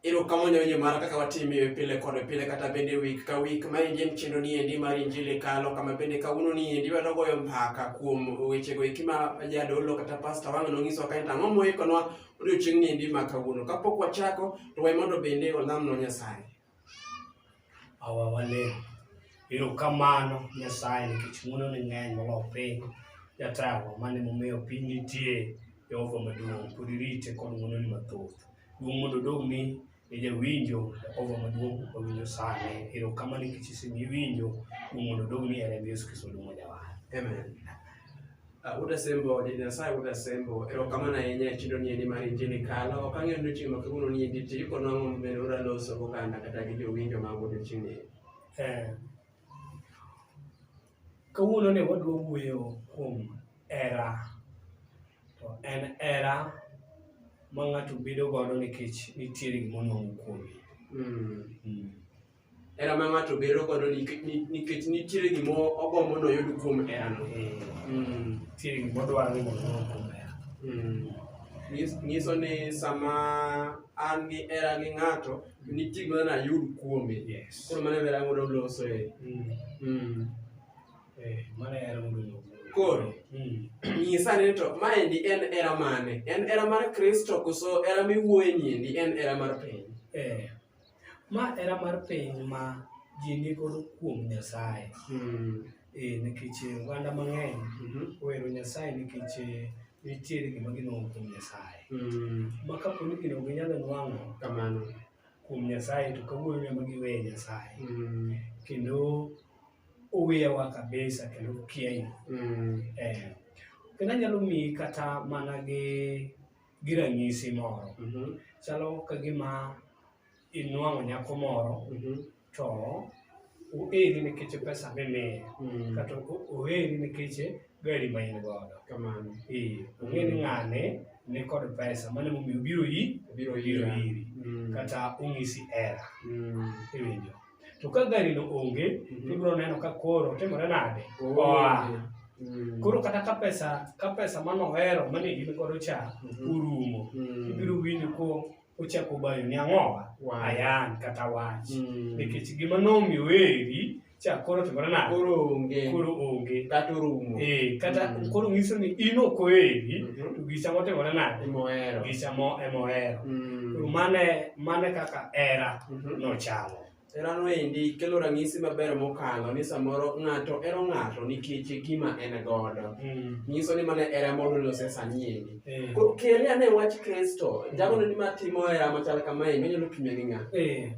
Ero kama nyonye mara kaka watimi pile kod pile kata bende wik ka wik ma endi en chenro ni endi mar injili kalo kama bende kawuono ni endi wadwa goyo mbaka kuom wechego eki ma jadolo kata pasta wang' nonyiso kae to ang'o moikonwa odiochieng' ni endi ma kawuono kapok wachako to wae mondo bende walamno Nyasaye awa walem ero kamano nyasaye nikech muno ni ng'eny molo piny jatawa mane momiyo piny nitie jehova maduong' pod irite kod muno ni mathoth duong' mondo dog mi ne jawinjo jehova maduong' wawinjo sane ero kamano nikech isemiwinjo duong' mondo dog mi e remb yesu kristo duong' mojawa amen Uh, Uda Sembo, Jane Nyasaye Uda Sembo, erokamano ahinya e chiro ni endi mar injili kalo. Ok ang'eyo ni chieng' ma kawuono ni endi ti iko nang'o mabende ura loso goganda kata gi jowinjo mag odiochieng'ni. Eh, kawuono ne wadwa wuoyo kuom era to en era ma ng'ato bedo godo nikech nitiere gima onwang'o kuome Mm. mm. hera ma ng'ato bedo godo nik- ni- nikech nitiere gima ogombo noyud kuom herano Mm, Nitie gik modwaro ni mondo oyud kuom hera. mm. Nyis- nyiso ni sama an gi hera gi ng'ato nitie gima nayud kuome Yes. koro mano hera mondo loso e Mm. Mm. Eh, mano hera mondo oyud kuom hera. Koro. Mm. nyisa ni to maendi en hera mane en hera mar kristo koso hera miwuoye niendi en hera mar piny Eh, Ma era mar piny ma ji nigodo kuom Nyasaye. Mm. E, nikech oganda mang'eny mm -hmm. ohero Nyasaye nikech eh, nitiere gima ginwang'o kuom Nyasaye. Mm. Ma kapo ni gino ginyalo nwang'o kamano kuom Nyasaye to kawuono ne ma giweye Nyasaye. Mm. Kendo oweyawa kabisa kendo okiayi. Mm. Eh. Kendo anyalo miyi kata mana gi gi ranyisi moro Mhm. chalo ka gima inwang'o nyako moro Mhm. to oeri nikech pesa mimiye Mm. kata o- oeri nikech gari ma in godo Kamano. Eh, ong'e ni ng'ane nikod pesa mano emomiyo obiro yi Obiro obiro ira. iri Mm. kata onyisi hera Mm. iwinjo to ka gari no onge Mhm. ibiro neno ka koro timore nade Oh. oa Mm. koro kata ka pesa ka pesa manohero mane in godo cha Mhm. orumo Mm. ibiro winjo ko ochako bayo ni ang'owa Wow. ayan kata wach Mm. nikech gima nomiyo eri cha koro timore nade Koro onge. koro onge Kata orumo. Eh, kata Mm. koro nyiso ni in ok oeri Mhm. to gicha motimore nade Emohero. gicha mo emohero Mm. koro mane mane kaka era mhm. nochamo. Herano endi kelo ranyisi maber mokalo ni samoro ng'ato ero ng'ato nikech gima en godo. Mm. Nyiso ni mana era mondo lose sanyeni. Mm. Koro kele ane wach Kristo, jago ni ma timo era machal kama endi onyalo kinya gi ng'a. Mm.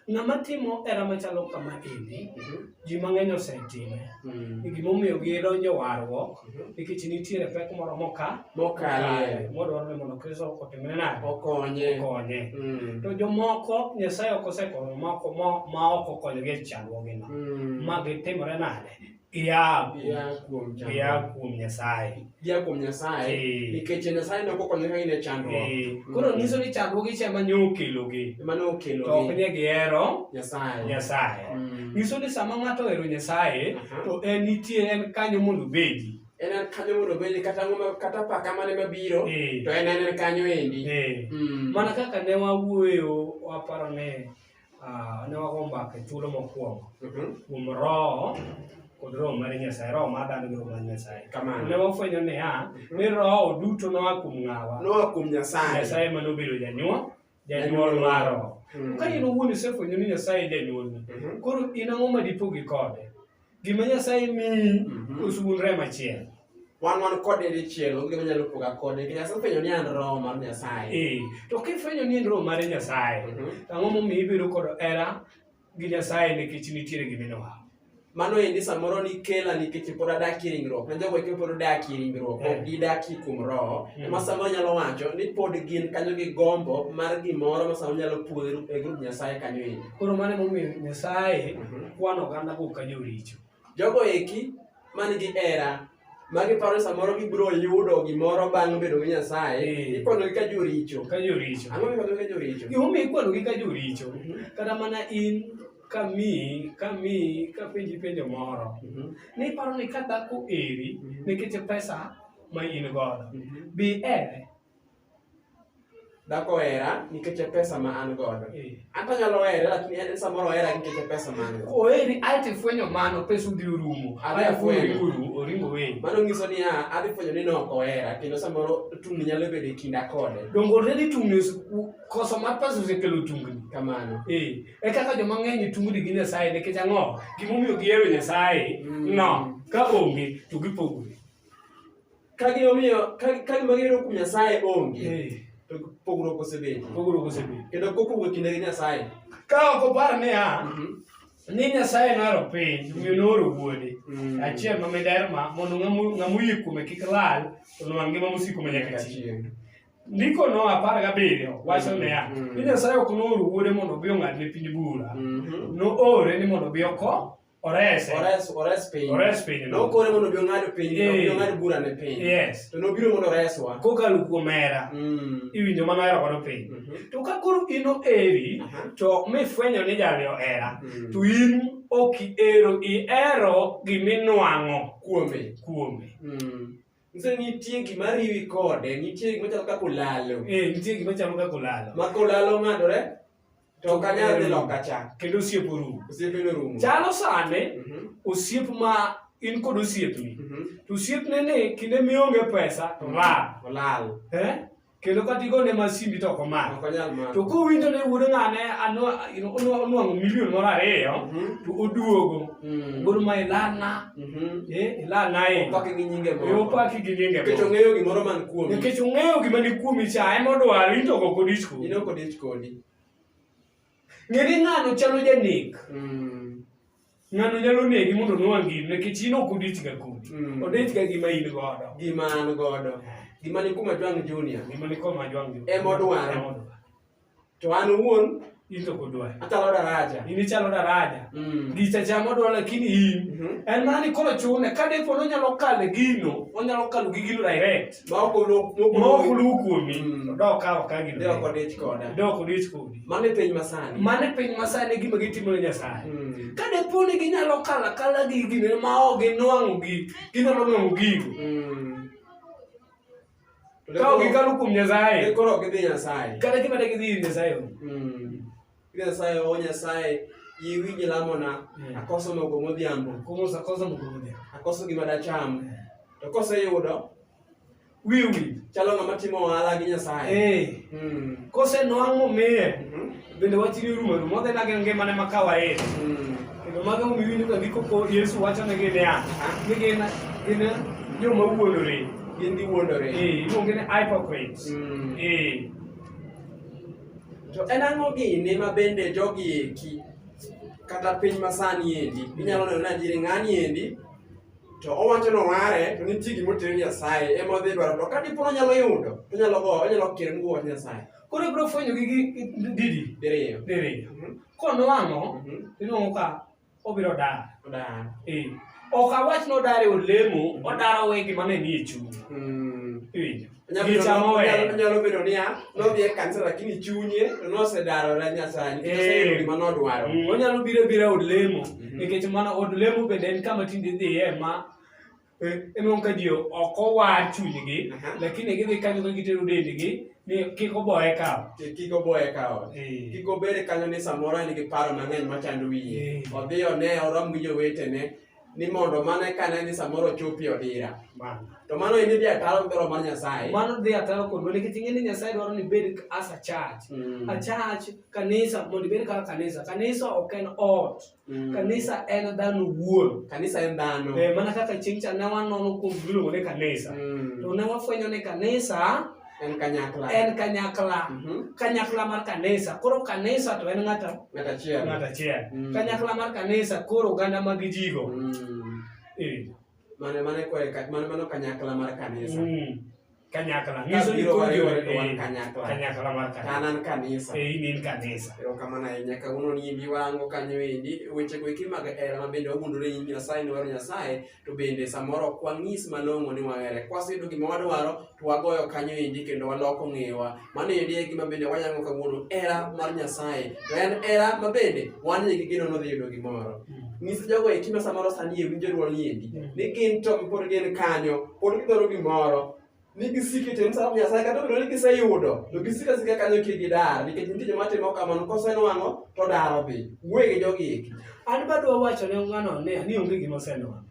Ng'ama timo era machalo kama endi mm-hmm. ji mang'eny osetime mm. gimomiyo gidonjo warruok mm-hmm. nikech nitiere pek moro moka mokale modwarore mondo kristo otimne nade okonye okonye mm. to jomoko nyasaye ok osekonyo moko ma ok okonyogi e chandruogino mm. ma gitimore nade gia kuom nyasaye gia kuom Nyasaye Eh. nikech Nyasaye ne ok okonyoga in e chandruok Eh, Koro nyiso ni chandruoge cha ema ne okelogi. ema ne To ok okelo ne gihero Nyasaye. Nyasaye. Mm. Nyiso ni sama ng'ato ohero Nyasaye Aha. to en nitie en kanyo mondo obedi. En en kanyo mondo obedi kata ang'o ma- kata apaka mane mabiro Eh. to en en en kanyo endi. Eh. Mm. Mana kaka ne wawuoyo waparo ne Ah, ne wago mbaka e thuolo mokwongo Mhm. kuom roho kod roho mar nyasaye roho mar dhano gi roho mar nyasaye Kamano. ne wafwenyo niya ni roho duto noa kuom ng'awa Noa kuom Nyasaye. nyasaye ema nobedo janyuol janyuol mar roho Mm. ka in owuon isefwenyo ni nyasaye e janyuolni Mhm. koro in ang'o ma dipogi kode Gima Nyasaye miyi Mhm. osulre machiel. wan wan kode dichiel onge gima nyalo poga kode nikech Nyasaye ofwenyo ni an roho mar Nyasaye Eh, to kifwenyo ni en roho mar Nyasaye, Mhm. ang'o momiyo ibedo kod hera gi Nyasaye nikech nitiere gima inowa? mano endi samoro nikela nikech pod adakie ringruok ne jogo eki pod odakie ringruok Eh. ok gidakie kuom roho Mm. ema samoro nyalo wacho ni pod gin kanyo gi gombo mar gimoro ma samoro nyalo puodho e grup Nyasaye kanyo endi Koro mano emomiyo Nyasaye Mhm. kwano ogandago ka joricho. Jogo eki man gi hera ma giparo ni samoro gibiro yudo gimoro bang' bedo gi Nyasaye, Eh. ikwanogi ka joricho. Ka joricho. Ang'o mikwanogi ka joricho? Gimomiyo ikwanogi ka joricho, Mhm. kata mana in kamiyi, kamiyi, kapenji penjo moro, Mhm. ni iparo ni ka dhako eri Mhm. nikech pesa ma in godo, Mhm. bi ere, dhako ohera nikech e pesa ma an godo eh. anto anyalo here lakini en samoro ohera nikech e pesa ma an godo oheri ae to ifwenyo mano pesa udhi orumo oringo weni mano nyiso niya adhi fwenyo ni nok ohera kendo samoro tungni nyalo bedo e kinda kode donge oredi tungni koso mar pesa osekelo tungni kamano eh. e kaka joma ng'eny tungni gi nyasaye nikech ang'o gimomiyo gihero nyasaye mm. no ka onge to gipogore Ka gima omiyo ka ka gima giyudo kuom Nyasaye onge Eh, to pogruok osebedo. pogruok osebedo. Kendo kok owuok kinde gi Nyasaye. Ka ok opar niya, Mhm. ni Nyasaye nohero piny, omiyo nooro wuode. Mm. Achiel ma miderma mondo ng'amu- ng'ama oyie kuome kik lal, to nowang' ngima mosiko ma nyaka chieng'. Ndiko no apar gabiriyo wacho Mm. niya, Mm. ni Nyasaye ok nooro wuode mondo obi ong'adne piny bura. Mhm. Noore ni mondo obi oko Orese. Ores, ores piny. Ores piny. Nokore mondo obi ong'ad piny, Eh. obi ong'ad bura ne piny. Yes. To nobiro mondo oreswa. Kokalo kuom hera, Mm. iwinjo mana hera kono piny. Mhm. To ka koro in oheri, Aha. to mifwenyo ni jali ohera, Mm. to in ok ihero, ihero giminwang'o Kuome. kuome. Mm. Nyiso ni nitie gima riwi kode, nitie gima chalo kaka olalo. Eh, nitie gima chalo kaka olalo. Ma kolalo ng'adore, to ok anyal dhi loka cha kendo osiep orumo osiepe norumo chalo sande Mhm. osiep ma in kod osiepni Mhm. to osiepne ni kinde mionge pesa to lal olal eh? kendo kata igone ma simbi to ok omako ok onyal mako to kowinjo ni wuod ng'ane anwa- you know, onwa- onwang'o milion moro ariyo Mhm. to oduogo Mm. wuod ma ilalna Mhm. eh, ilalna ahinya Opake gi nyinge moko. Eh, opaki gi nyinge Nikech moko. ong'eyo gimoro man kuomi nikech ong'eyo gima ni kuomi cha ema odwaro in to ok odisko in ok odich kodi Ng'e ni ng'ano chalo janek. Mm. Ng'ano nyalo negi mondo onwang' gini nikech in ok odich ga kodi. Mm. Odich ga gima in godo. Gima an godo. Gima ni kuma Jwang' Junior. Gima ni kuma Jwang' Junior. Ema odwaro. To an owuon into kodwar achalo daraja in ichalo daraja mm. gicha chamo dwa lakini in mm -hmm. en mana ni koro chune ka dipo ni onyalo kale gino onyalo kalo gi gino direct maok oluw kuomi mm. dok ka ok agirde dok odich koda dok odich kodi mano e piny masani mano e piny masani gima gitimo ne nyasaye mm. ka depo ni ginyalo kalo akala gi gine ma ok ginwang'o gi ginyalo nwang'o gigo mm. ka ok gikalo kuom nyasaye koro ok gidhi nyasaye kata gima de gidhi ir nyasaye Pia Nyasaye o Nyasaye iwinj lamona eh. akoso mogo modhiambo. Akoso akoso mogo modhiambo. Akoso gima dacham. Eh. To koseyudo wiwi chalo ng'ama timo ohala gi Nyasaye. Eh. Hmm. Kose nwang' momiye mhm. bende wach ni rumo rumo dhi nage ngimane ma kawaida. Hmm. Kendo mago miwinjo ka ndiko ko Yesu wacho ne gin niya, ni gin gin joma wuondore. Gin giwuondore. Eh, iluonge ni hypocrites. Hmm. Eh. To en ang'o gini ma bende jogi eki kata piny masani endi inyalo neno ni adieri ng'ani endi to owacho ni oware to nitie gima otere Nyasaye ema odhi dwaro to ka dipo ni onyalo yudo to onyalo go onyalo kere ni wach Nyasaye. Koro ibiro fwenyo gi didi? Diriyo. Diriyo. Mhm. Konwang'o mhm. iluongo ka obiro dar odar Eh, ok awach ni odar e olemo odar owe gima ne nie chuny Mm. Iwinjo? Nyalo bedo- Gicha moweyo. nyalo- nyalo bedo niya nodhi e kanisa lakini chunye to nosedarore nyasaye nikech Eh. oseyudo gima nodwaro Mm, onyalo biro bira od lemo Mhm. nikech mana od lemo bende en kama tinde idhiye ma Enwang' ka ji ok owar chunygi, lakini gidhi kanyo ka gitero dendgi ni kik oboye kawo. Kik oboye kawo. Kik obed kanyo ni samoro en gi paro mang'eny machando wiye. Odhi one orom gi jowetene ni mondo mano eka ne ni samoro chopi odira. To mano en dhi ataro gi dwaro mar Nyasaye. Mano dhi ataro kodwa nikech ing'e ni Nyasaye dwaro ni ibed as a church. A church, kanisa, mondo ibed kaka kanisa. Kanisa ok en ot. Mm. Kanisa en dhano wuon. Kanisa en dhano. Eh, mana kaka chieng' cha ne wanono kuom giluongo ni kanisa. Mm. To ne wafwenyo ni kanisa en kanyakla en kanyakla mm -hmm. kanyakla mar kanisa koro kanisa to en ng'ata ng'ata achiel ng'ata achiel mm. kanyakla mar kanisa koro oganda mag jigo mm. e. mane mane kore mane mano kanyakla mar kanisa mm. kanyakla nyiso ni koro jowete wan eh, kanyakla kanyakla mar kanan kanisa eh inin kanisa ero kamano ahinya kawuono ni bi wango kanyo endi weche go eki mag hera ma bende wagundore nying nyasaye ni waro nyasaye to bende samoro ok wang'is malong'o ni wahere kwaseyudo gima wadwaro to wagoyo kanyo endi kendo waloko ng'ewa Mano endi e gima bende wayango kawuono, hera mar Nyasaye. To en hera ma bende wan ni gi geno nodhi yudo gimoro. Nyis jogo eki ma samoro sani e winjo dwol niendi, ni gin to pod gin kanyo, pod gidwaro gimoro, ni gisiki to en sa Nyasaye kata obedo ni giseyudo, to gisika sika kanyo kik gidar, nikech nitie joma timo kamano kosenwang'o to odaro dhi. Wuoye gi jogi eki. An badwa wacho ne ng'ano ni onge gima osenwang'o.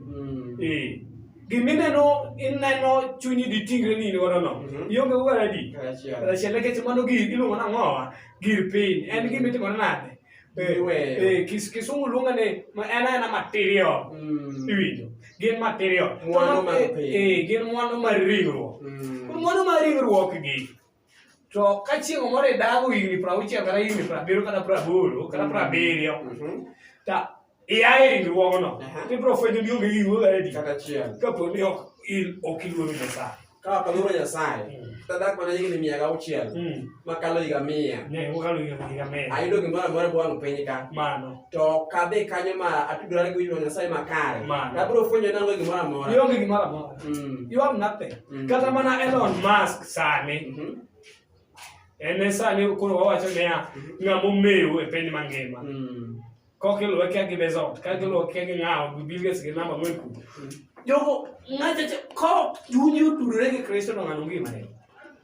Mm. Eh. Gimineno ineno chunyi di tingre ni in godo no. Mhm. Ionge go adi. Karachiel. Karachiel nikech mano gir iluongo na ng'owa gir piny. En gima itimore nade? Eh, Iweyo. eh, kis- Kisungu luongo ni ma- en aena material. Mm. Iwinjo? Gin material. Mwandu To ma- mag eh, piny. eh, gin mwandu mar ringruok. Mm. Mwandu mar ringruok gi To ka chieng' moro idago higni piero auchiel kata higni piero abiriyo kata piero aboro kata piero abiriyo mhm. ta ia e ringruogno tibiro fwenyo ni onge gino edi kata chiel kapo ni ok in ok iluoro Nyasaye ka ok aluoro Nyasaye mm. tadak mana higni mia gi auchiel mm. makalo higa mia ayudo gimoro amora bwang' piny ka to kadhi kanyo ma atudorane gi winjruok Nyasaye makare tabiro fwenyo nango gimoro amora mm. kata mana Elon Musk sani mm -hmm. en e sani koro wawacho niya mm -hmm. ng'ama omewo e piny mangima mm -hmm. kok iluwe kia gi bezot ka giluwe kia gi ng'awo gi bilges gi namba moy kubo mm-hmm. jogo ng'ato ko chunyi otudore gi kristo no ng'ano ngima ne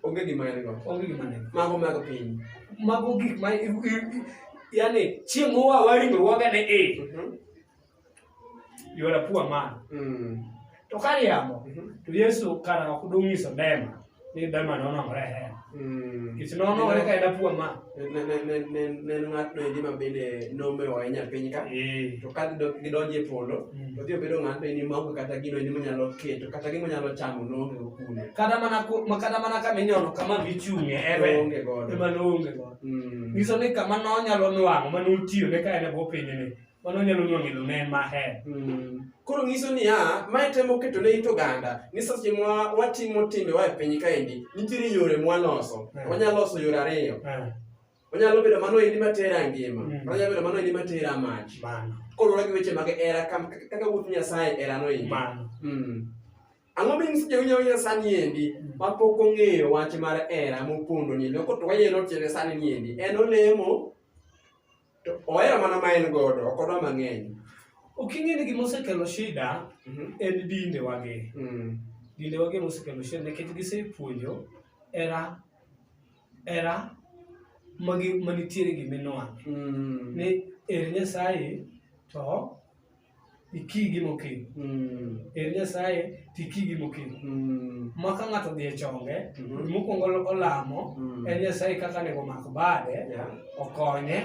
onge gima en go onge gima ne mago mago piny mago gik ma yani chieng' mowa waringo waga ne e mm-hmm. you are a poor man mm. to kari yamo mm -hmm. to yesu kana kakudungi so dema ni dema nono ngore he mm. kisi nono ngore ka ena poor man ne ne ne ne ne ngat ne di mabele no me wa enya piny ka e. to ka do gi donje polo mm. to dio bedo ngat ni mago kata gino ni manyalo ke to kata gi manyalo chamo no ngi kune kata mana ko makata mana ka minyono kama bichunge ebe onge godo ema no onge godo mm. ngiso ni kama no nyalo nwango manu tiyo ne ka ena bo piny ni mano nyalo nwango ilo ne maher mm. koro nyiso niya mae temo keto ne it oganda ni seche ma watimo timbe wa e piny kaendi nitiere yore mwaloso eh. wanyalo loso yore ariyo eh. onyalo bedo mano endi matera ngima mm. onyalo bedo mano endi matera mach koluwore gi weche mag era kaka wuoth nyasaye erano endi mm. ang'o minyiso jawinjo wina sani endi mm. mapok ong'eyo wach mar era mopondo ni loko to wayeno tiende sani ni endi en olemo to ohero mana ma en godo ok odwa mang'eny ok ing'e ni gima osekelo shida Mhm. en dinde wage Mm. dinde wage mosekelo shida nikech gisepuonjo era era magi manitiere giminwang' Mm. ni ere nyasaye to ikigi mokiny mm. er nyasaye to ikigi mokiny mm. ma ka ng'ato dhi e chonge mm-hmm. mokwongo olamo mm. en nyasaye kaka nego mak bade okonye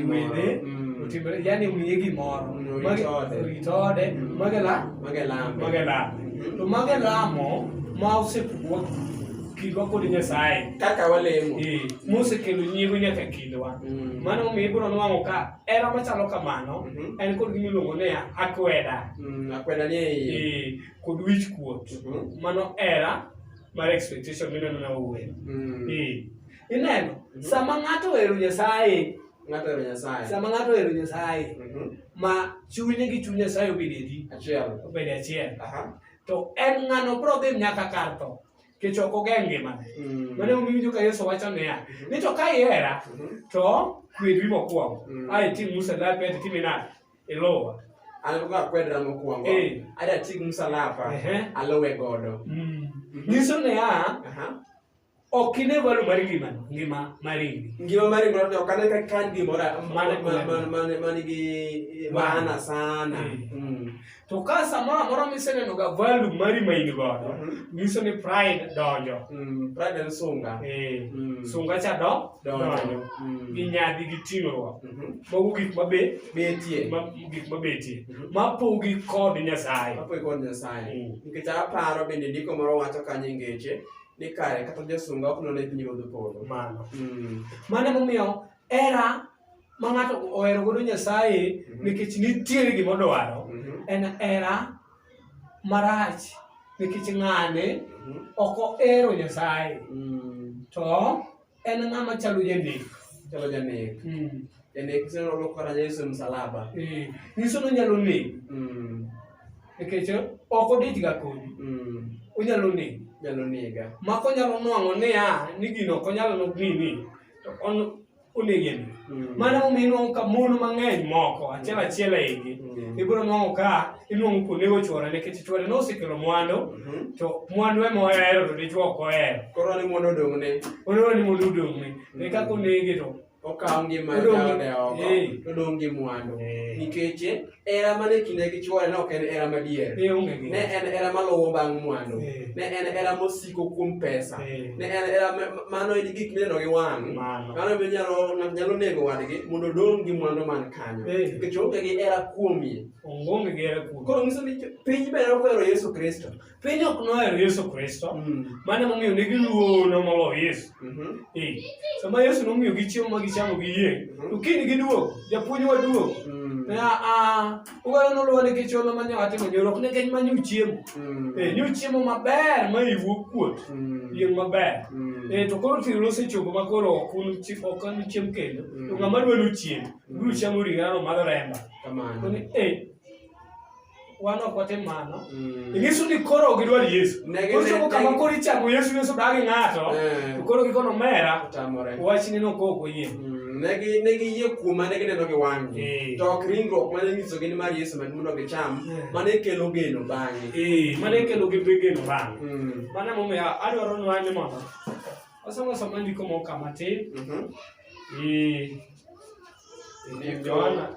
wede mm. otimre yani omiye gimoro orit ode mage lame to mage lamo ma osepuodh kindwa kod nyasaye kaka walemo mosekelo nyiego nyaka kindwa mano omiyo ibiro nwang'o ka Hera machalo kamano Mhm. en kod gima iluongo ni akweda Mm, akweda ni e iye. eh, kod wich kuot. Mhm. Mano hera mar expectation mineno na owuoyo. Mm. Eh, Ineno, Mhm. sama ng'ato ohero Nyasaye, Ng'ato ohero Nyasaye. sama ng'ato ohero Nyasaye, Mhm. ma chunye gi chuny Nyasaye obed adi, Achiel. obed achiel, Aha. to en ng'ano bro dhi nyaka kar tho. kech ok oge ngimane Mm. mane omiwinjo ka yesu wacho niya Mhm. ni to ka ihera Mhm. to kwedri mokwongo Mm. a itim musalape to itime nade iluwa An ka akwedra mokwongo, Eh. ada ti gi msalaba, Ehe. aluwe godo. nyiso niya Aha. ok ine valo mar ngimano ngima mar indi Ngima mari ngoro to kana ka kan gimora Mane- mane- mane- mane- mane gi maana sana. Mm. Mm. To ka samoro amora miseneno ga value mari ma in godo, Mhm. nyiso ni pride donjo. Mm, pride en sunga. Eh, Mm. sunga cha do Donjo. donjo. Mm. Gi nyadhi gi ting'ruok. Mhm. Mago gik mabe Betie. ma- gik mabetie. Mhm. Mapogi kod Nyasaye. Apo ikon Nyasaye. Mm. Nikech aparo bende ndiko moro wacho kanyo e ngeche ni kare kata josunga ok none pinyruodh polo. Mano. Mm. Mano emomiyo era ma ng'ato ohero godo Nyasaye mhm. nikech nitiere gima odwaro mhm. en era marach nikech ng'ane mhm. ok ohero Nyasaye mm. to en ng'ama chalo janek chalo janek mm. janek senolo kora Yesu e msalaba eh, nyiso ni onyalo nek mm. nikech ok odich ga kodi onyalo nek nyalo nega mako nyalo nwang'o niya ni gino ok onyalo nok nini to onege ni mm. mano momiyo inuang'o ka mon mang'eny moko achiel achiel e igi mm. ibiro nuang'o ka inuang'o kuonde gochwore nikech chwore nosekelo mwandu mm-hmm. to mwandu ema ohero to dichwo ok ohero koro ni mondo odong'ne oneno ni mondo odong'ne mm. e kaka onege to okawo ngima jaode oko todong' gi mwandu eh. nikech Hera mane kinde gi chwore ne ok en hera madier. Eh, onge gi Ne en hera maluwo bang' mwandu. Eh. Ne en hera mosiko kuom pesa. Eh. Ne en hera ma- ma- mano en gik mineno gi wang'. Mano. Mano be nyalo ng'ato nyalo nego wadgi mondo odong' gi mwandu man kanyo. Eh. Nikech onge gi hera kuomie. onge gi hera kuom Koro nyiso ni piny be nokwero Yesu Kristo. Piny ok nohero Yesu Kristo, mm. mano momiyo ne giluoro molo Yesu. Mm-hmm. Eh, sama Yesu nomiyo gi chiemo ma gichamo gi yie, mm-hmm. to kiny giduogo, japuonj waduogo. Mm. Eh, ah, ah, Uganda noluwa nikech olo ma nyawa timo nyoro, ok nikech ma nyu chiemo. Mm. Eh, nyu chiemo maber ma iwuok kuot, yieng' maber. Eh, to koro tiro osechopo ma koro ok an chiemo kendo, to ng'ama dwa luchiem, biro chamo ring'ano madho remba. Kamano. Eh, wan ok watim mano mm. inyiso ni koro ok idwar yesu koro chopo kama koro ichako yesu yesu dagi ng'ato eh. to koro gikono mera wachni nokok oyie mm, ne giyie kuoma ne gineno gi wang'gi eh. to ok ringruok mane nyisogi ni mar yesu med mondo gicham eh. mane kelo geno bang'e mane kelo gi geno bang'e mm. mano emomiyo adwaro nwa ni mondo wasomo somo ndiko moko kama tin mhm. Yohana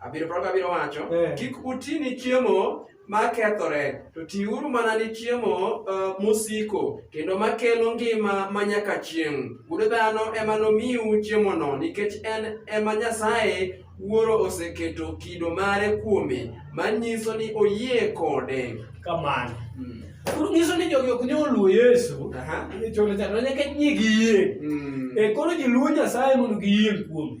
Abiro proga abiro wacho, Eh. kik uti ni chiemo ma kethore, to tiuru mana ni chiemo eh, mosiko, kendo ma kelo ngima ma nyaka chieng'. Wuod dhano ema nomiu chiemono, nikech en ema Nyasaye Wuoro oseketo kido mare kuome, manyiso ni oyie kode. kamano Mm. koro nyiso ni jogi ok nyal luwo yesu Aha. e cholo chandruok nyaka nyie giyie Mm. e koro ji luwo nyasaye mondo giyie kuome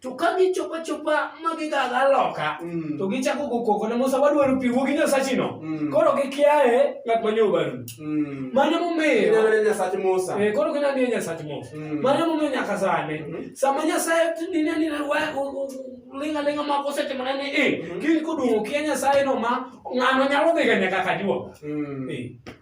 to ka gichopo achopa ma gigaga loka Mm. to gichako go koko ne musa wadwaro pi wuogi nyasachino Mm. koro gikiaye ng'at ma nyobaru Mm. mano Ineno momiyo ne Nyasach Musa. Eh, koro gina ni nyasach musa Mm. mano momiyo nyaka sani Mhm. sama nyasaye nine nine linga linga mako osetimone ni i Mhm. kiny koduong'o kia nyasaye no ma ng'ano nyalo dhiga nyaka kajuo Mm.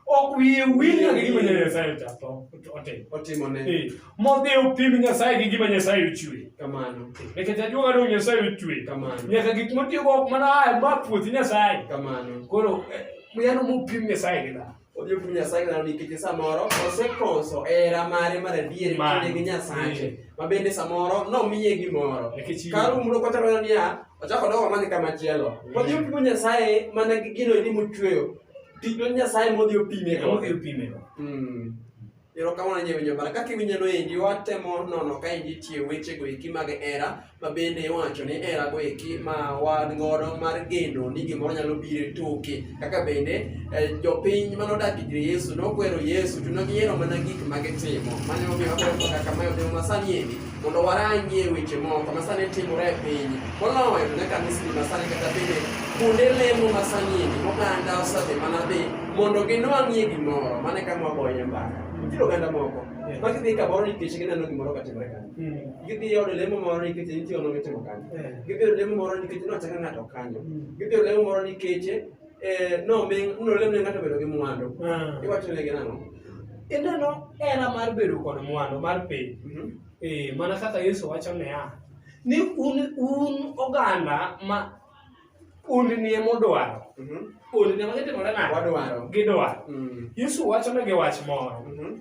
ok wiye wil nyaka gima nyasaye ochapo otimo Otimone. Eh, Modhi upim Nyasaye gi gima Nyasaye ochwe. Kamano. Nikech ajuoga ni Nyasaye ochwe. Kamano. Nyaka gik motiyogo ok mana a ma puoth Nyasaye. Kamano. Koro eh, yano mupim Nyasaye gi dhano. Odhi opim Nyasaye gi dhano nikech samoro osekoso hera mare mar adier kinde gi Nyasaye. Eh. Ma bende samoro nomiye gimoro. Kar umro kata mana niya ochako dogo mane kama chielo. Eh. Odhi opim Nyasaye mana gi gino ni mochweyo. Tich Nyasaye modhi opime. Modhi opime. Mm. Erokamano nyie winjo bara. Kaka iwinjono endi watemo nono ka endi tie wechego eki mag hera ma bende iwacho ni herago eki ma wan godo mar geno ni gimoro nyalo biro e toke. Kaka bende eh, jopiny mane odak ir Yesu nokwero Yesu to ne gihero mana gik ma gitimo. Mano emomiyo wakwero kaka ma e odhiambo ma sani endi. mondo warangie weche moko masani timore e piny moloyo ne kanisni masani kata bende kuonde lemo masanyini oganda osadhi mana dhi mondo ginwang'ie gimoro mane ka mwagoye mbaka nitie oganda moko ma gidhi kamoro nikech gineno gimoro katimore kanyo hmm. gidhi e od lemo moro nikech nitie ono mitimo kanyo hmm. gidhi e od lemo moro nikech nochaka ng'ato kanyo hmm. gidhi e od lemo moro nikech eh, nomi- nolemne ng'ato bedo gi mwandu Ah. iwachonegi nang'o Ineno hera mar bedo kod mwandu mar piny. Mhm. Eh, mana kaka Yesu wacho niya, ni un, un oganda ma ondnie modwaro, Mhm. ondnie ma gitimore nade? wadwaro Gidwaro. Mm. Yesu wacho negi wach moro. Mhm.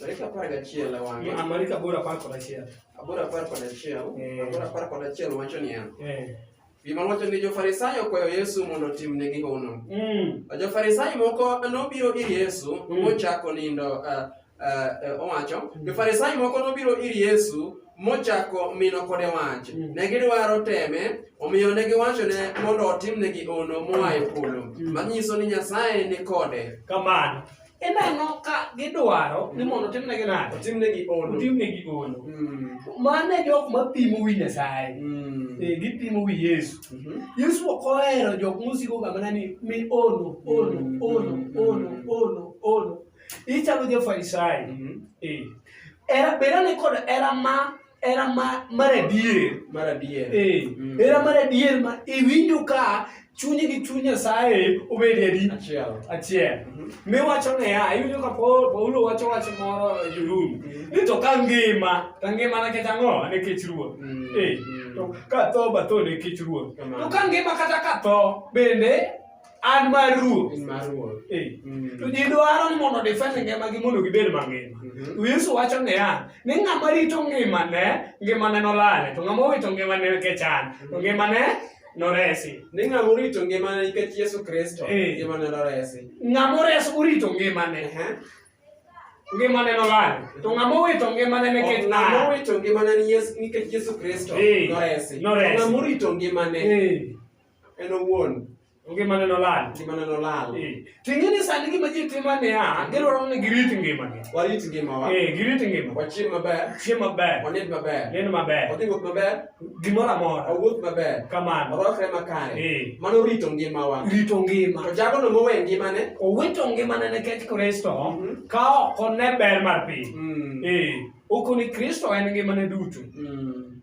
Dakika apar gachiel e wang'e. Ma- Mani ka bora apar kod achiel. Aboro apar kod achiel. Eh. Aboro apar kod achiel wacho niya. Eh. Gima wacho ni jo-Farisayo okwayo Yesu mondo otimnegi hono. Mm. Jo-Farisayo moko nobiro ir Yesu Mm. mochako nindo eh, eh, eh, owacho. Jo-Farisayo moko nobiro ir Yesu mochako mino kode wach. Mm. Ne gidwaro teme, omiyo ne giwachone mondo otimnegi hono moa e polo. Mm. Manyiso ni Nyasaye ni kode. Kamano. ineno ka gidwaro ni mondo otimnegi nade otimnegi ono otimnegi ono Mm, mano e jok mapimo wi nyasaye mm, Eh, gipimo wi yesu mhm. yesu ok ohero jok mosikoga mana ni mi ono ono Mm, ono mm, ono mm. ono ono ichalo jofarisayo Mhm. Eh, era bedane kod era ma era mar adier mar adier eh, mm. era mar adier ma iwinjo ka chunyi gi chuny nyasaye obedi adi achiel mhm. miwacho niya iwinjo ka paulo wacho wach moro e jorumi mhm. ni to ka ngima to ngima nikech ang'o nikech ruoth mm, eh, mm. ka tho batho nikech ruoth to ka ngima kata ka tho bende an mar ruoth in mar ruoth eh mm. to ji dwaro ni mondo defend ngima gi mondo gibed mangima mm -hmm. to Yesu wacho ne an ni ng'ama rito ngima ne ngima ne nolale to ng'ama owito ngima ne nikech an to mm-hmm. ngima ne noresi ni ng'ama orito ngima ne nikech Yesu Kristo eh. ngima ne noresi ng'ama ores orito ngima ne uh -huh. ngima ne nolale to ng'ama owito ngima ne nikech ng'ama owito ngima ne nikech Yesu Kristo eh. noresi noresi ng'ama orito ngima ne eh. en owuon ngimane nolal ngimane nolal eh. ting'e ni sani gima ji timo niya gidwaro ni girit ngimagi warit ngimawa eh, girit ngima wachiem maber chiem maber wanind maber nind maber wadhi wuoth maber gimoro amora wawuoth maber kamano warwakre makare eh. mano rito ngimawa rito ngima to jagono mowe ngimane owito ngimane nikech kristo mhm. ka ok one ber mar piny mm. okoni kristo en ngimane duto mm.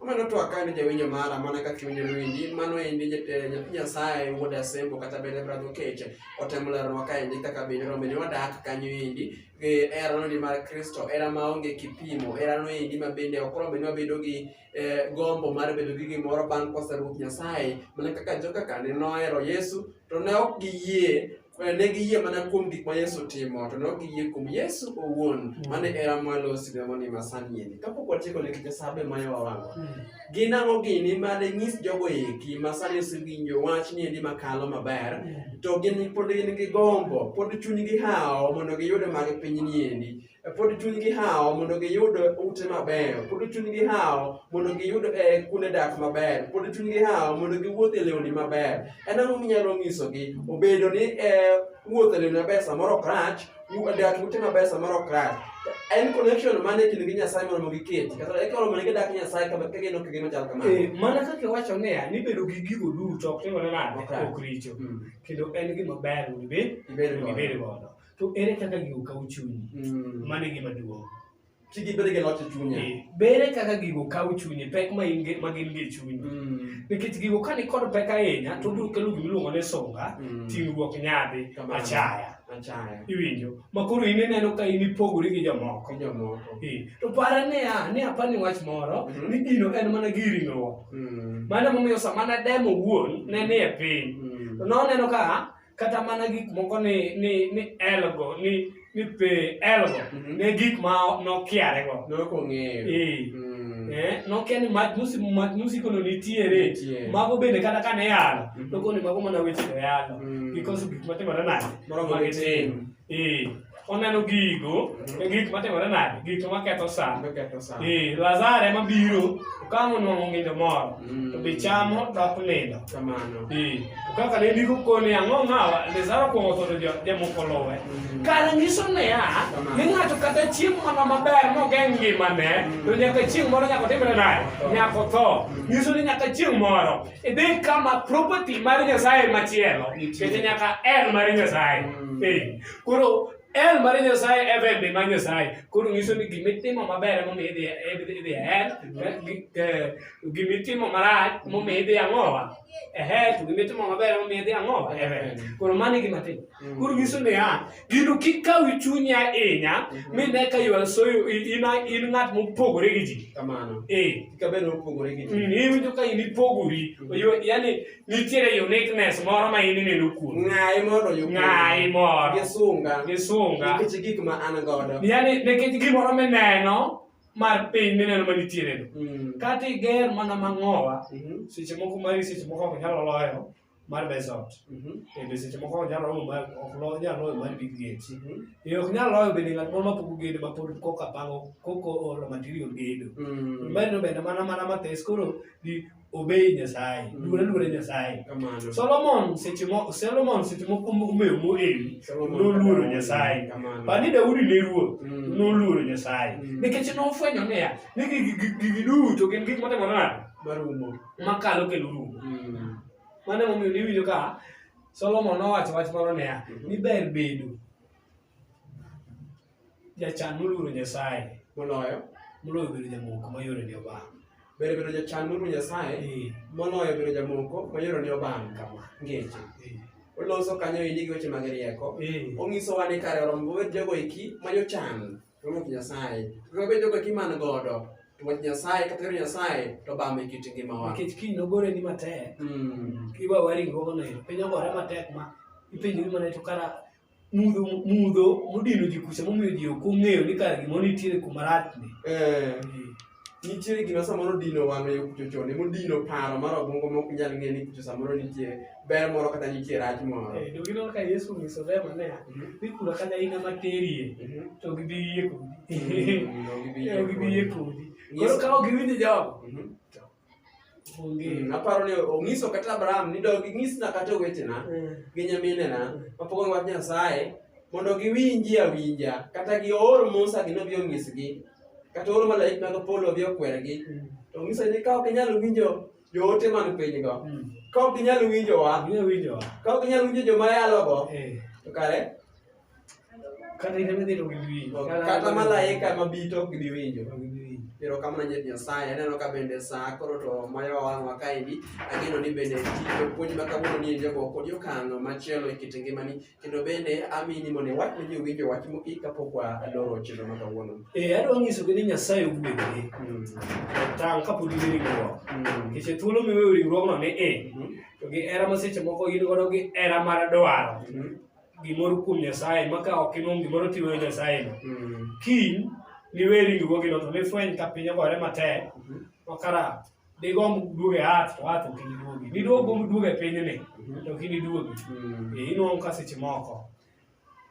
Omeno to akani jawinjo mara mana ka chunye noendi mano endi eh, nyathi Nyasaye wuod Asembo kata bende Brother Okeche otemo leronwa kaendi kaka bende rombe ni wadak kanyo endi gi herano ni mar Kristo hera maonge kipimo herano endi ma bende ok rombe ni wabedo gi eh, gombo mar bedo gi gimoro bang' kosa Ruoth Nyasaye mana kaka joka kane nohero Yesu to ne ok giyie Eh, ne giyie mana kuom gik ma Yesu timo to ne ok giyie kuom Yesu owuon mm. mane era mwalo sidemoni masanieni kapok watieko ne kite sabe ma yo wawango mm. gin ang'o gini ma de nyis jogo eki ma sani osewinjo wach ni endi makalo maber mm. to gin pod gin gi gombo pod chunygi hawo mondo giyude mag piny ni endi pod chunygi hawo mondo giyud ute mabeyo pod chunygi hawo mondo giyud e kuonde dak maber pod chunygi hawo mondo giwuoth e lewni maber en ang'o minyalo nyisogi obedo ni e wuoth e lewni maber samoro ok rach dak ute maber samoro ok rach en connection mane e kind gi nyasaye mondo giket kata e koro mondo gidak nyasaye kama ka gino kigino chal kamano eh, mana kaka iwacho niya ni bedo gi gigo duto ok timore nade ok richo hmm. kendo en gima ber mondo ibed godo to ere kaka gigo kawo chunyi Mm. mano e gima duong' Ti gi bedo gi loch e chunye. Eh, bere kaka gigo kawo chunyi pek ma in ge- ma gin gi e chunyi Mm. nikech gigo ka nikod pek ahinya to obiro kelo gima iluongo ni sunga Mm. ting'ruok nyadhi Kamano. achaya Achaya. iwinjo ma koro in ineno ka in ipogori gi jomoko Ko jomoko. Eh, to para niya ni apani wach moro Mhm. ni gino en mana gi ringruok Mm. mano momiyo sama nademo wuon ne ni e piny Mm. to noneno ka kata mana gik moko ni ni ni elgo ni ni pe elgo Mhm. ne gik ma nokiare go Nok ong'eyo. Eh. Mm. eh nokia ni mach musi mach musi kono nitiere Nitie. mago bende kata kane yalo Mhm. nokoni mago mana weche to yalo Mm. because gik matimore nade Moro ma gitim. Eh, oneno gigo e gik matimore nade gik to maketho sa eh, lazaro ema biro kama onwang'o ng'indo moro to be mm. chamo dok nindo eh, to kaka ne ndiko koni ang'o ng'awa lazaro kuong'o tho to jamoko luwe mm. kar nyiso niya ni ng'ato kata chiemo mana maber mogeng' ngimane mm. to nyaka chieng' moro nyaka otimre nade nyaka otho nyiso ni nyaka chieng' moro Idhi kama property mar Nyasaye machielo, kete nyaka en mar Nyasaye. Mm. Eh, koro en mar Nyasaye e bende mar Nyasaye. Koro nyiso ni gima itimo maber ema omiyo idhi idhi idhi ahead, eh, gi- eh, gima itimo marach ema omiyo idhi ang'owa. Ahead, gima itimo maber ema omiyo idhi ang'owa. Eh, Koro mano e gima timo. Mm. Koro nyiso ni ya, ah, gino kik kaw chunyi ahinya mm-hmm. mi ne ka yuan so in in ng'at mopogore gi ji. Kamano. Eh. Kik abed mopogore gi ji. Mm, iwinjo ka in ipogori. Mm-hmm. Yaani nitiere uniqueness moro ma in ineno kuom. Ng'ayi mondo yo. Ng'ayi moro. Gisunga. Gisunga. Nikech gik ma an godo. Yaani nikech gimoro mineno mar piny mineno ma nitiere no. Mm. Kata iger mana mang'owa, mm-hmm. seche moko mari seche moko ok nyalo loyo. mar mesot bende seche moko ok nyal romo mar ok lo nyal loyo mar big gate e ok nyal loyo bende ng'at moro mapogo gedo ma pod koka pango koko olo material gedo bende bende mana mana mathes koro di obey nyasaye Mm. luore luore nyasaye Kamano. solomon seche moko solomon seche moko omeyo moel Solomon noluoro kata- nyasaye Kamano. bani daudi ne ruoth Mm. noluoro nyasaye Mm. nikech nofwenyo niya ni gigi gigi duto gin gik matimore nade Marumo. makalo kendo rumo mm. mano emomiyo niwinjo ka solomon nowacho wach moro niya mhm. ni ber bedo jachan moluoro nyasaye moloyo moloyo bedo jamoko mayore ni obang ber bedo jachan moluoro nyasaye eh. moloyo bedo jamoko mayore ni obang kama ngeche eh. oloso kanyo ini gi weche mag rieko eh. onyisowa ni kare orombo wet jogo eki ma jochan to onge Nyasaye. To kabe jogo kiman godo to wach Nyasaye kata yor Nyasaye to bame kit ngimawa. Nikech kiny nogore ni matek. Mm. Kiwa wari gogo ne piny ogore matek ma ipenjo ni mana to kara mudho mudho modino ji kucha momiyo ji ok ong'eyo ni kara gimoro nitiere kuma rach ni. Eh. nitiere gima samoro dino wang'e yo kucho chon emo dino paro mar obwongo mok nyal ng'e ni kucho samoro nitie ber moro kata nitie rach moro eh, to gineno ka yesu onyiso rema ne mhm. ni kura kata in ema terie mhm. to gidhi yie kodi mhm, eh, gidhi yie kodi koro ka ok giwinjo jogo Mm, aparo ni onyiso kata Abraham ni dog inyisna kata owetena mm. gi nyaminena mm. mapok ong'ad Nyasaye mondo giwinji awinja kata gi oor Musa gi nobi onyisgi kata oor malaik mag polo obi okwergi to onyiso ni ka ok inyal winjo joote man pinygo ka ok inyal winjowa ka ok inyal winjo joma yalogo eh. to kare Kata in ema dhi to giwinjo. Kata malaika ema bi to ok gibi winjo. Pero kama na nyet Nyasaye aneno ka bende saa koro to mayo wang'wa kaendi ageno ni bende tije puonj ma kawuono ni enje go kod okang' machielo e kit ngimani kendo bende amini mondo iwach ne ji owinjo wach mogik kapok waloro chenro ma kawuono. Eh adwa nyiso gi ni Nyasaye ogwedhi. Mm. Tang' kapod in e ringruok. Mm. Nikech e thuolo miweyo ringruogno ni i mm-hmm. to gi hera ma seche moko in godo gi hera mar dwaro. Mm-hmm. gimoro kuom Nyasaye ma ka ok inwom gimoro tiweyo Nyasayeno. Mm. Kiny niwe ringruogino to nifweny ka piny ogore matek mm-hmm. ma kara digomb duogo e ath to ath ok iniduogi. Niduog gomb duogo e pinyni mm-hmm. to ok iniduogi. Mm. E, inwom ka seche moko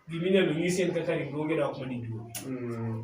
giminyalo nyisi en kaka ringruogi dok ma niduogi. Mm.